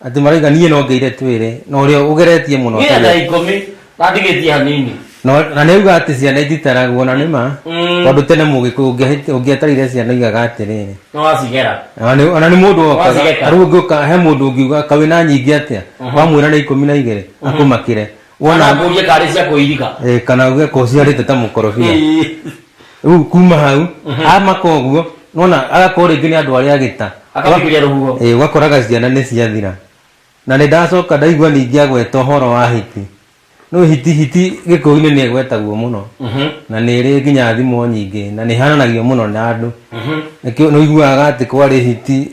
Atĩ maraiga niĩ no ngeire twĩrĩ na ũrĩa ũgeretie mũno Nginya tha ikũmi na ndigĩtie hanini. No- na nĩ auga atĩ ciana ititaragwo na nĩ ma Mm. tondũ tene mũgĩkũyũ ũngĩahĩti- ũngĩatarire ciana igaga atĩrĩrĩ Nĩ wacigera. Ona nĩ- ona nĩ mũndũ wokaga Wacigeka. tarĩu ũngĩũka he mũndũ ũngiuga kawĩ na nyingĩ atĩa wamwĩra nĩ ikũmi na igĩrĩ akũmakĩre wona wona ngũrie karĩ cia kũiriga eh, kana uge ko ciarĩte ta mũkorobia Ĩĩ. rĩu kuma hau amaka ũguo nona agakorwo rĩngĩ nĩ andũ arĩa agĩta akabikiria rũhuho Eh, ũgakoraga ciana nĩ ciathira na nĩ ndacoka ndaigua ningĩ agweta ũhoro wa hiti no hiti hiti gĩkũyũ-inĩ nĩ ĩgwetagwo mũno Mhm. na nĩ ĩrĩ nginya thimo nyingĩ na nĩ hananagio mũno na andũ Mhm. nĩkĩo nĩ ũiguaga atĩ kwarĩ hiti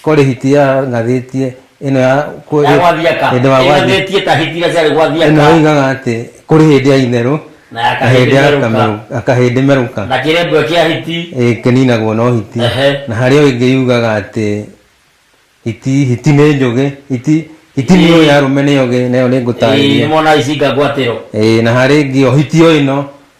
Kori hitia ngathĩtie ĩno ya kũ- ya gwathiaka hĩndĩ wa gwathiaka ĩnathĩtie ta hitira ciarĩ ĩno gwathiaka ĩigaga atĩ kũrĩ hĩndĩ ya itherũ Na ya na hĩndĩ ya kahĩndĩ merũka. kamerũ- akahĩndĩ merũka na kĩrembwe kĩa hiti ĩ, kĩninagwo no hiti Ehe. na harĩ o ĩngĩ yugaga atĩ hiti hiti nĩ njũgĩ hiti hiti nĩ Ĩĩ. ya rũme nĩ yogĩ nayo nĩ ngũtarĩria nĩmona icinga ngwatĩro Ĩĩ, na harĩ ĩngĩ o hiti o ĩno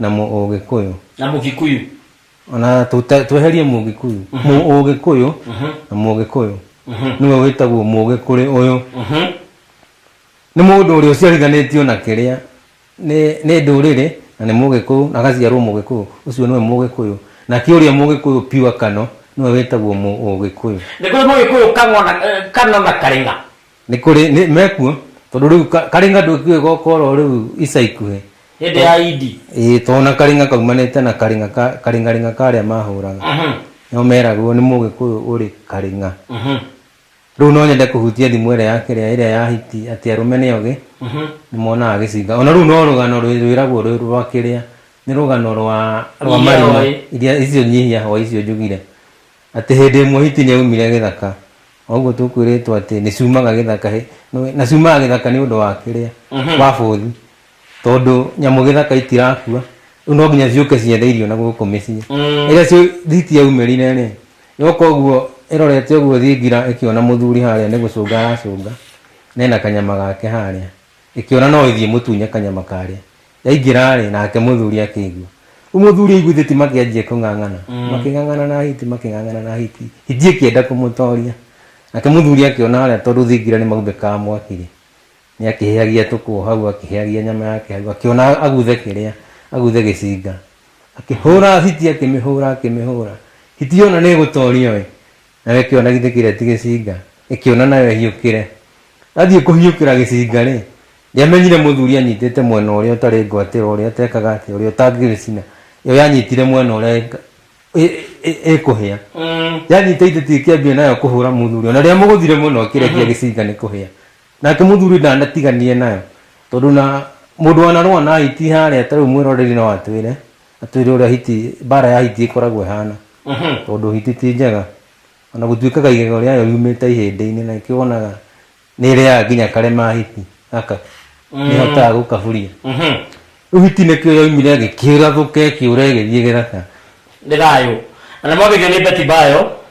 na mũũgĩkũyũ na mũgikuyu ona tũte- tweherie mũgĩkuyu mũũgĩkũyũ na mũgĩkũyũ nĩwe wĩtagwo mũũgĩ kũrĩ ũyũ nĩ mũndũ ũrĩa ũciarithanĩtio na kĩrĩa nĩ nĩ ndũrĩrĩ na nĩ mũgĩkũyũ na agaciarwo mũgĩkũyũ ũcio nĩwe mũgĩkũyũ nake ũrĩa mũgĩkũyũ piwa kano nĩwe wĩtagwo mũũgĩkũyũ nĩ kũrĩ mũgĩkũyũ kang'o na- eh, kano na karĩng'a nĩ kũrĩ nĩ- mekuo tondũ rĩu ka- karĩng'a ndũkiũĩ gokoro rĩu ica ikuhĩ hĩndĩ ya idi ĩĩ tondũ na karĩng'a kaumanĩte na karĩng'a ka- karĩng'arĩng'a karĩa mahũraga Mhm, nĩo meragwo nĩ mũgĩkũyũ ũrĩ karĩng'a mhm, rĩu no nyende kũhutia thimũ ĩrĩa ya kĩrĩa ĩrĩa ya hiti atĩ arũme nĩ ogĩ mhm. nĩ monaga gĩcinga ona rĩu no rũgano rwĩ- rwĩragwo rwĩ rwa kĩrĩa nĩ rũgano rwa rwa Nyihia marima hoi. iria icio nyihia hwa icio njugire Atĩ hĩndĩ ĩmwe hiti nĩ oimire gĩthaka, o ũguo tũkwĩrĩtwo atĩ nĩ ciumaga gĩthaka, hĩ, nĩũĩ, na ciumaga gĩthaka nĩ ũndũ wa kĩrĩa, Mhm. wa bũthi, tondũ nyamũ gĩthaka itirakua, rĩu no nginya ciũke ciethe irio na gũkũ mĩciĩ. Mm. Rĩrĩa cio- hiti yaumĩrire-rĩ, yoka ũguo ĩrorete ũguo thingira ĩkĩona mũthuri harĩa nĩ gũcũnga aracũnga, na ena kanyama gake harĩa, ĩkĩona no ĩthiĩ ĩmũtunye kanyama karĩa. Yaingĩra-rĩ, nake mũthuri akĩigua. Rĩu mũthuri aiguithĩti makĩanjia kũng'ang'ana makĩng'ang'ana na hiti makĩng'ang'ana na hiti hiti ĩkĩenda kũmũtoria nake mũthuri akĩona harĩa tondũ thingira nĩ maumbĩkaga mwaki-rĩ nĩ akĩhĩhagia tũkũ hau akĩhĩhagia nyama yake hau akĩona aguthe kĩrĩa aguthe gĩcinga akĩhũra hiti akĩmĩhũra akĩmĩhũra hiti yona nĩ ĩgũtorio-ĩ Nawe kĩona githĩ kĩrĩa ti gĩcinga? Ĩkĩona nayo ĩhiũkĩre. Yathiĩ kũhiũkĩra gĩcinga-rĩ, ndĩamenyire mũthuri anyitĩte mwena ũrĩa ũtarĩ ngwatĩro, ũrĩa ũtekaga atĩa, ũrĩa ũtangĩgĩcina. Yo yanyitire mwena ũrĩa ĩkũhĩa. Yanyita itĩti ĩkĩambia nayo kũhũra mũthuri. Ona rĩrĩa mũgũthire mũno ĩkĩrekia gĩcinga nĩ kũhĩa. Nake mũthuri ndanatiganire nayo, tondũ na mũndũ wanarũa na hiti harĩa ta rĩu mwĩroreri no atwĩre. atwire uria hiti bara ya hiti ikoragwo ihana tondu hiti ti njega ona gutuikaga igego riayo riumite ihindi-ini na ikio wonaga ni riaga nginya karema hiti aka ni hotaga gukaburia riu hiti nikio yoimire gikirathuka ikiura igithie githaka Ndĩrayũ. Na nĩ mwagĩthio nĩ Beti Bayo.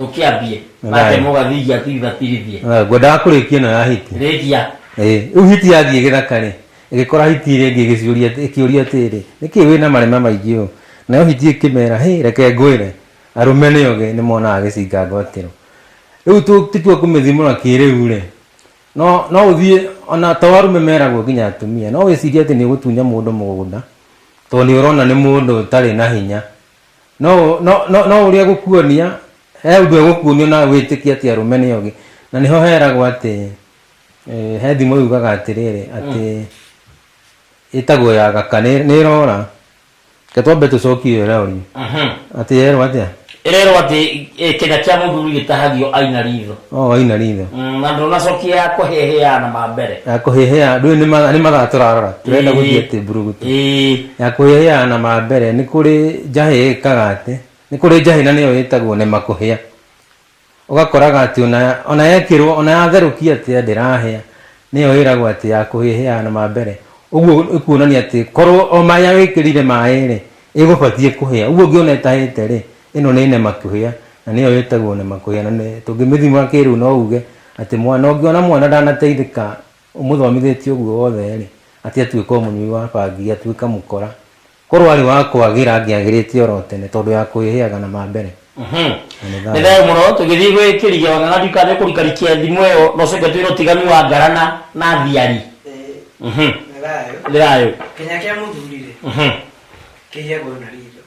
tũkĩambie Nĩ ate thayũ. mũgathigia tuibatithie Ah, ngwendaga kũrĩkia ĩno ya hiti rĩkia Eh, rĩu hiti yathiĩ gĩthaka rĩ ĩgĩkora hiti ĩrĩa ĩngĩ ĩgĩciũria atĩ- ĩkĩũria atĩrĩ nĩkĩ wĩ na marema maingĩ ũũ nayo hiti ĩkĩmera hĩ reke ngwĩre arũme nĩ oge nĩ monaga gĩcinga ngwatĩro rĩu tu- tũtua kũmĩthimũra kĩrĩu rĩ no no ũthiĩ ona to arũme meragwo nginya atumia no wĩcirie atĩ nĩ ũgũtunya mũndũ mũgũnda tondũ nĩ ũrona nĩ mũndũ ũtarĩ na hinya no no no no uria gukuonia he undu egukuonia na witikia ati arume ni ogi na niho heragwo ati eh, he thimu yugaga atiriri ati itagwo ya gaka ni ni rora ke twambe tucokie iyo iraorio ati yerwo atia ĩrerwo atĩ eh, kĩga kĩa mũthuri gĩtahagio aina ritho o waina ritho Mm, na ndũnacokia kũhĩhĩa na mambere ya kũhĩhĩa ndũĩ nĩ mathaa- nĩ mathaa tũrarora tũrenda Ĩĩ. gũthiĩ atĩ mburugutu Ĩĩ. ya kũhĩhĩa na mambere nĩ kũrĩ njahĩ ĩkaga atĩ nĩ kũrĩ njahĩ na nĩyo ĩtagwo nĩ makũhĩa ũgakoraga atĩ ona- ona yekĩrwo ona yatherũkia atĩa ndĩrahĩa nĩyo ĩragwo atĩ ya kũhĩhĩa na mambere ũguo ĩkuonania atĩ korwo o maĩ wĩkĩrire maĩ-rĩ ĩgũbatiĩ kũhĩa ũguo ũngĩona ĩtahĩte-rĩ Ĩno nĩ nemakũhĩa na nĩyo ĩtagwo nemakũhĩa na nĩ tũngĩmĩthima kĩrĩu no uge atĩ mwana ũngĩona mwana ndanateithĩka ũmũthomithĩtie ũguo wothe rĩ atĩ atuĩka mũnyui wa bangi atuĩka mũkora korwo arĩ wa kwagĩra angĩagĩrĩte oro tene tondũ ya kwĩhĩaga na mambere nĩ thayũ mũno tũgĩthiĩ gwĩ kĩriga ona na ndika nĩ kũrikarikia thimũ ĩyo no coke twĩre ũtiganu wa ngara na na thiari nĩ thayũ Kenya kĩa mũthuri rĩ kĩhĩagwo na ritho.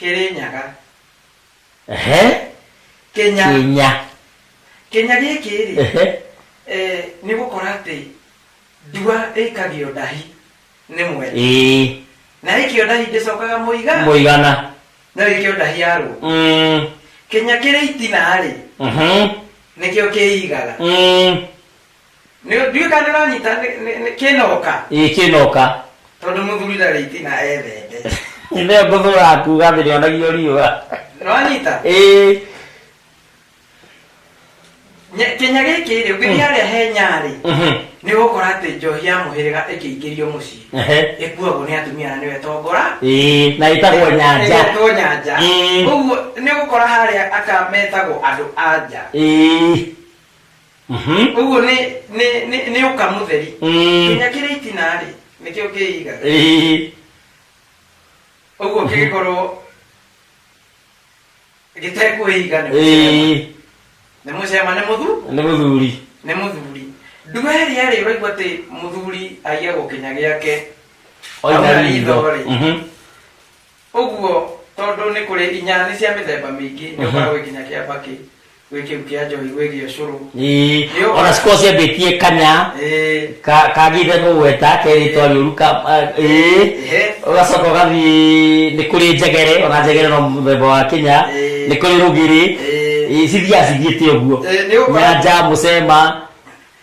Kĩrĩnyaga. Ehe. Kĩnya. Kĩnya. Kĩnya gĩkĩ-rĩ, Ehe. eh, nĩ gũkora atĩ ndua ĩikagio ndahi nĩ mwene. Ĩĩ. Na ĩikio ndahi ndĩcokaga mũiga. Mũigana. No ĩikio ndahi ya rũa. Mm. Kĩnya kĩrĩ itina-rĩ, Mhm. nĩkĩo kĩigaga. Mm. Nĩ- ndiũĩ kana nĩũranyita nĩ- nĩ- nĩ- kĩnoka ĩĩ kĩnoka tondũ mũthuri ndarĩ itina ethete nĩyo ngũthũraga kuga thĩ nĩonagio riũa nĩwanyita ĩĩ Nya- kĩnya gĩkĩ rĩ ũngĩthiĩ harĩa he nyarĩ mhm, nĩ ũgũkora atĩ njohi ya mũhĩrĩga ĩkĩingĩrio mũciĩ ehe, ĩkuagwo nĩ atumia na nĩwe tongora ĩĩ na ĩtagwo nyanja Ĩtagwo nyanja Mm. ũguo nĩ ũgũkora harĩa aka metagwo andũ anja ĩĩ Mhm. ũguo nĩ nĩ- nĩ- nĩ ũka mũtheri Mm. kinya kĩrĩ itinarĩ nĩkĩo kĩigaga Ĩĩ. ũguo kĩgĩkorwo gĩtekwĩiga nĩ mũcema. Ĩĩ. nĩ mũcema nĩ mũthu nĩ mũthuri nĩ mũthuri nduga ĩrĩa rĩ ũraigua atĩ mũthuri aiagwo kinya gĩake Oina Auna ritho. ritho-rĩ. Mhm. ũguo tondũ nĩ kũrĩ inya nĩ cia mĩthemba mĩingĩ nĩ ũkoragwo nginya kĩamba kĩ gwĩ kĩu kĩa njohi gwĩ gĩa ũcũrũ Ii, Nĩũgũra. ona cikuo ciambĩtie kanya Ĩĩ, ka- kagĩte mũgweta keritwa rĩũru ka ah, ĩĩ. Ĩhĩ. ũgacoka ũgathiĩ nĩ kũrĩ njegere ona njegere no mũthemba wa kinya Ĩĩ. nĩ kũrĩ rũgĩrĩ Ĩĩ. Ĩĩ, cithiaga cithiĩte ũguo Ĩĩ, nĩ ũgũkora- nyanja mũcema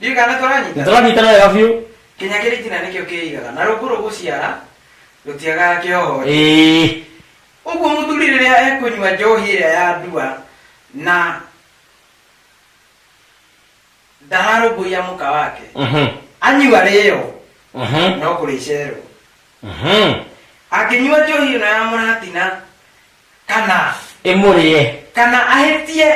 Ndirikana tũranyita. Nĩtũranyitana wega biũ. Kinya kĩritina nĩkĩo kĩigaga na rungu rũgũciara rũtiagaga kĩoho. Ĩĩ. Ũguo mũthuri rĩrĩa ekũnyua njohi ĩrĩa ya ndua na ndararũmbũiya mũka wake, Mhm. anyua rĩyo Mhm. no kũrĩcerwo. Mhm. Angĩnyua njohi ĩno ya mũratina kana ĩmũrĩe kana ahĩtie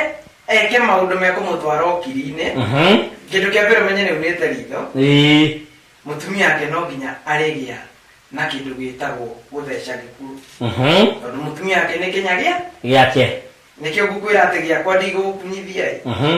eke maũndũ mekũmũtwara ũkiri-inĩ Mhm. kĩndũ kĩa mbere menye nĩ unĩte ritho Ĩĩ. mũtumia ake no nginya arĩgĩa na kĩndũ gĩtagwo gũtheca gĩkuũ Mhm. tondũ mũtumia ake nĩ kĩnya gĩa gĩake nĩkĩo ngũkwĩra atĩ gĩakwa ndigũgũkunyithia ĩ Mhm.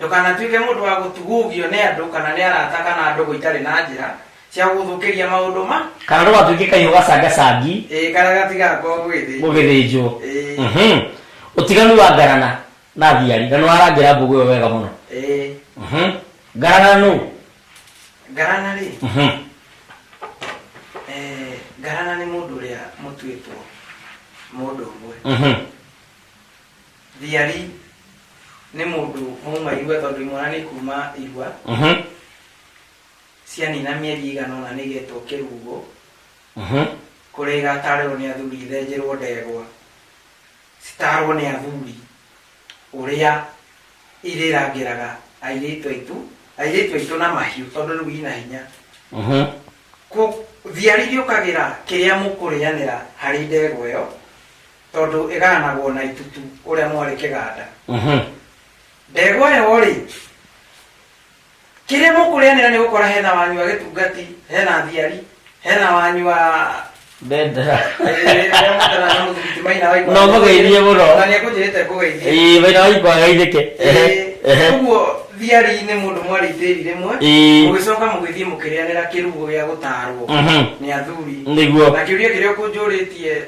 Ndũkanatuĩke mũndũ wa gũtugugio nĩ andũ kana nĩ arata kana a ndũgũ itarĩ na njĩra cia gũgũthũkĩria maũndũ ma. Kana ndũgatuĩke kahiũ gacangacangi. Ĩĩ, karĩa gatigakorwo gũgĩthĩnjwo. Gũgĩthĩnjwo. Ĩĩ. Mhm. Ũtiganu wa ngarana na thiari. Na nĩ warangĩra mbũgũ ĩyo wega mũno. Ĩĩ. Mhm. Ngarana nũũ? Ngarana-rĩ, Mhm. eh, ngarana nĩ mũndũ ũrĩa mũtuĩtwo mũndũ ũmwe. Mhm. thiari nĩ mũndũ mauma irua tondũ imwana nĩ kuma irua Mhm, cianina mĩeri igana ũna nĩgetwo kĩrugo mhm. kũrĩa igatarĩrwo nĩ athuri ithenjĩrwo ndegwa citarwo nĩ athuri ũrĩa irĩrangĩraga airĩtu aitũ airĩtu aitũ na mahiũ tondũ rĩu ina hinya Mhm. Ku- thiari gĩũkagĩra kĩrĩa mũkũrĩanĩra harĩ ndegwa ĩyo tondũ ĩgaanagwo na itutu ũrĩa mwarĩ kĩganda Mhm. ndegwa yo rĩ kĩrĩa mũkũrĩanĩra nĩ gũkora hena wanyu wa gĩtungati hena thiari hena wanyu wa Bendera. No mũgeithie mũno. nĩ ekũnjĩrĩte ngũgeithie Ĩĩ, wĩra wa ikwa geithĩke. Ehe, ehe. ũguo thiari nĩ mũndũ mwarĩ itĩri rĩmwe Ĩĩ. mũgĩcoka mũgĩthiĩ mũkĩrĩanĩra kĩrugo gĩa gũtaarwo Mhm. nĩ athuri Nĩguo. na kĩũria kĩrĩa ũkũnjũrĩtie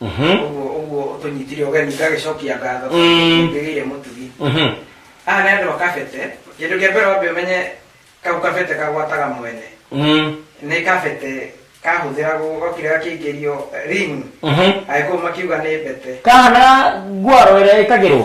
Mhm. ũguo ũguo tũnyitire ũgeni ngagĩcokia ngatho Mm. ngĩgĩire mũtugi Mhm. aya nĩ andũ akabete kĩndũ kĩa mbere wambe ũmenye kau kabete kagwataga mwene Mhm. nĩ kabete kahũthĩragwo gokire gakĩingĩrio ring Mhm. agĩkũũ makiuga nĩ mbete kahana ngwaro ĩrĩa ĩkagĩrwo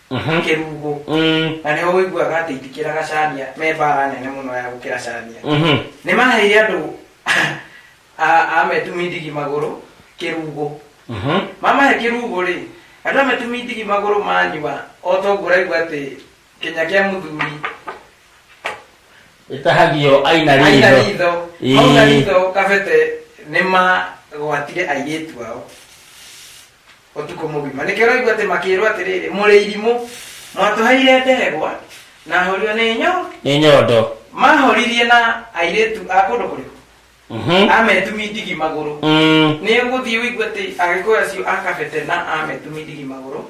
kĩrungu na nĩho ũiguaga atĩ itikĩraga cania me mbara nene mũno ya gũkĩra cania nĩ maheire andũ a- a metumindigi magũrũ kĩrungu mamahe kĩrungu rĩ andũ a metumindigi magũrũ manyua o toguo ũraigua atĩ kĩnya kĩa mũthuri ĩtahagio aina aina ritho ritho Ĩĩ. mauna ritho kabete nĩ magwatire airĩtu ao ũtukũ mũgima nĩkĩo ũraigua atĩ makĩĩrwo atĩrĩrĩ mũrĩ irimũ mwatũheire ndegwa na horio nĩ nyo nĩ nyondo mahoririe na airĩtu a kũndũ kũrĩkũ Mhm. ametumi ndigi magũrũ Mm. nĩ ũgũthiĩ ũigue atĩ agĩkũyũ acio a kabete na ametumi ndigi magũrũ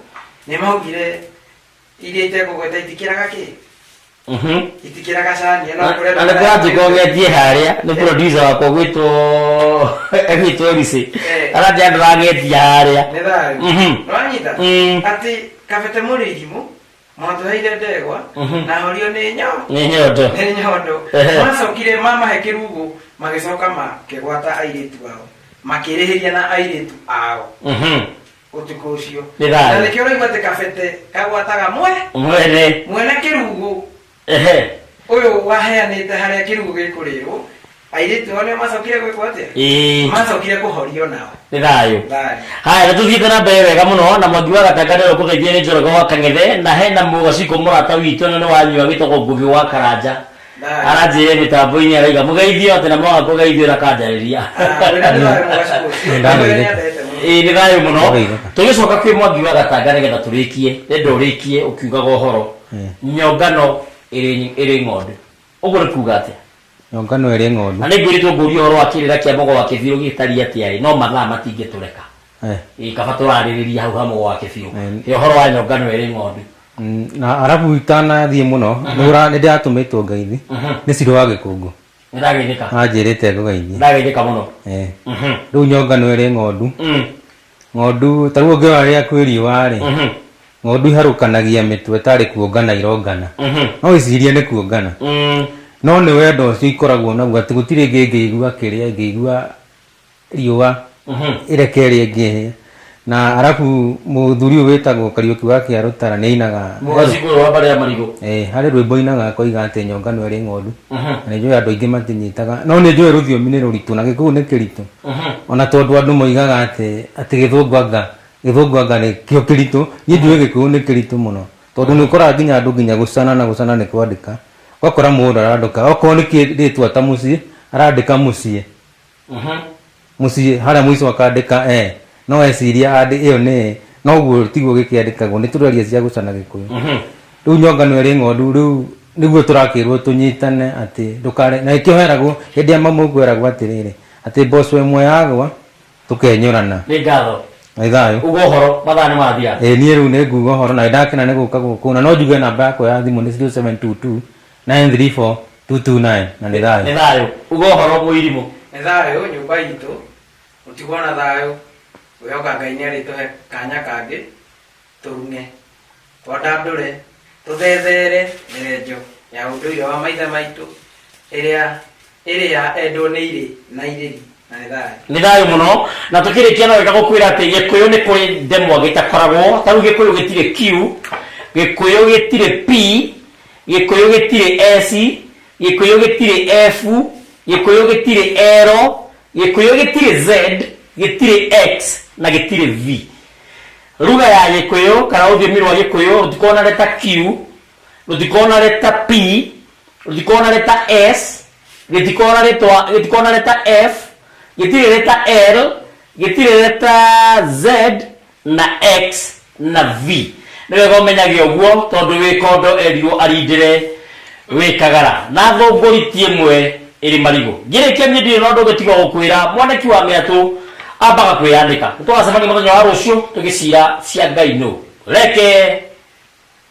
nĩ maugire iria itegũgweta itikĩraga kĩ Mhm. itikĩraga cani ĩno Na- kũrĩa- na nĩ kũranjĩka ũgetie harĩa nĩ producer wakwa gwĩtwo gwĩtwo risi Eh. aratĩ andũ ragetia harĩa nĩ thayu Mhm. nĩwanyita Mm. atĩ kabete mũrĩgimũ mwatũheire ndegwa Mhm. na horio nĩ nyoo nĩ nyondo nĩ nyondo Ehe. macokire mamahe kĩrugu magĩcoka makĩgwata airĩtu ao makĩrĩhĩria na airĩtu ao Mhm. ũtukũ ũcio Nĩ thayũ. na nĩkĩo ũraigua atĩ kabete kagwataga mwe mwene mwene kĩrugu ehe ũyũ waheanĩte harĩa kĩrugu gĩkũrĩrwo airĩtu ao nĩo macokire gwĩkwo atĩa ĩĩ macokire kũhorio nao nĩ thayũ Thayũ. haya nä tå thiä na mbere wega må no na mwangi wa gatangare rå kå geithia nä njorogo wa kang'ethe na hena må gacikå må rata witå na nä wanyua gä togwo ngå gä wa karanja aranjĩrĩre mĩtambo-inĩ ya raiga mũgeithio atĩ na mwaga kũgeithio na kanjarĩria ĩĩ nĩ thayũ mũno tũgĩcoka kwĩ mwangi wa gatanga nĩgetha tũrĩkie nĩndå ũrĩkie ũkiugaga ũhoro nyongano ĩrĩ ĩrĩ ng'ondu ũguo nĩ kuuga atĩa nyongano ĩrĩ ng'ondu na nĩ ngwĩrĩtwo ngũria ũhoro wa kĩrĩra kĩa mogo wa kĩbirũ gĩtariĩ atĩa ĩ no mathaa matingĩtũreka Eh. ä kaba tå rarä rä ria hau hamwe gwake biå Eh. ä horo wa nyonga nä werä ng'ondu Mm, na arabu itanathiĩ mũno nĩ ndĩratũmĩtwo ngeithi nĩ cirĩ wa gĩkũngũ nä ndageithä ka anjĩrĩte nä ngũgeithie ndageithä ka må no Eh. Mhm. rĩu nyonga nĩ ĩrĩ ng'ondu Mm. ng'ondu ta rĩu ũngĩona rĩrĩa kwĩ riũa rĩ Mhm. ng'ondu iharũkanagia mĩtwe tarĩ kuongana irongana Mhm. no icirie nĩ kuongana Mm. no nĩ wendo ũcio ikoragwo naguo atĩ gũtirĩ ngĩ ngĩigua kĩrĩa ngĩigua riũa ireke rĩngĩ na arabu mũthuri ũyũ wĩtagwo kariũki wa kĩa rũtara nĩ ainaga mũgacikũrũ wa mbarĩ ya marigũ Eh, harĩ rwĩmbo ainaga akoiga atĩ nyonga no ĩrĩ ng'ondu na nĩ njũĩ andũ aingĩ matinyitaga no nĩ njũĩ rũthiomi nĩ rũritũ na gĩkũyũ nĩ kĩritũ ona tondũ andũ moigaga atĩ atĩ gĩthũngũ anga gĩthũngũ anga nĩ kĩo kĩritũ niĩ njũĩ gĩkũyũ nĩ kĩritũ mũno tondũ nĩ ũkoraga nginya andũ nginya gũcana na gũcana nĩ kwandĩka ũgakora mũndũ arandĩka okorwo nĩ kĩrĩtwa ta mũciĩ arandĩka mũciĩ mũciĩ harĩa mũico akandĩka e no eciria andĩ ĩyo nĩ noguo tiguo gĩkĩandĩkagwo nĩ tũraria cia gũcana gĩkũyũ rĩu nyongano ĩrĩ ng'ondu rĩu nĩguo tũrakĩrwo tũnyitane atĩ ndũkare na nĩkĩo heragwo hĩndĩ ya mamu ũguo eragwo atĩrĩrĩ atĩ mboco ĩmwe yagwa tũkenyũrana nĩ ngatho nĩ thayũ uga ũhoro mathaa nĩ mathia ĩ niĩ rĩu nĩ nguga ũhoro na nĩ ndakena nĩ gũka gũkũ na no njuge namba yakwa ya thimũ nĩ 0722 934-229 na nĩ thayũ nĩ thayũ uga ũhoro mũirimũ nĩ thayũ nyũmba itũ mũtigwo na thayũ gwĩhoka ngai nĩ arĩtũhe kanya kangĩ tũrune twandandũre tũthethere mĩrenjo ya ũndũire wa maithe maitũ ĩrĩa Ĩrĩa endwo nĩ irĩ na irĩri na nĩ thayũ. Nĩ thayũ mũno. Na tũkĩrĩkia no wega gũkwĩra atĩ Gĩkũyũ nĩ kũrĩ ndemwa gĩtakoragwo. Ta rĩu Gĩkũyũ gĩtirĩ Q, Gĩkũyũ gĩtirĩ P, Gĩkũyũ gĩtirĩ S, Gĩkũyũ gĩtirĩ F, Gĩkũyũ gĩtirĩ L, Gĩkũyũ gĩtirĩ Z, gĩtirĩ X na gĩtirĩ V. Ruga ya Gĩkũyũ kana rũthiomi rwa Gĩkũyũ rũtikoragwo na leta Q. lo di kona de ta P, lo di kona de ta S, lo di kona de ta, lo di kona de ta F, lo di de ta L, lo di de ta Z, na X, na V. Nĩwe gomenyagia ũguo tondũ wĩ kondo erirwo arindĩre wĩ kagara na thũngũriti ĩmwe ĩrĩ marigũ ngĩrĩkia niĩ ndirĩ na ũndũ ũngĩ tiga gũkwĩra mwanaki wa mĩatũ ambaga kwĩyandĩka nĩtũgacemania mũthenya wa rũciũ tũgĩcira cia ngai nũ reke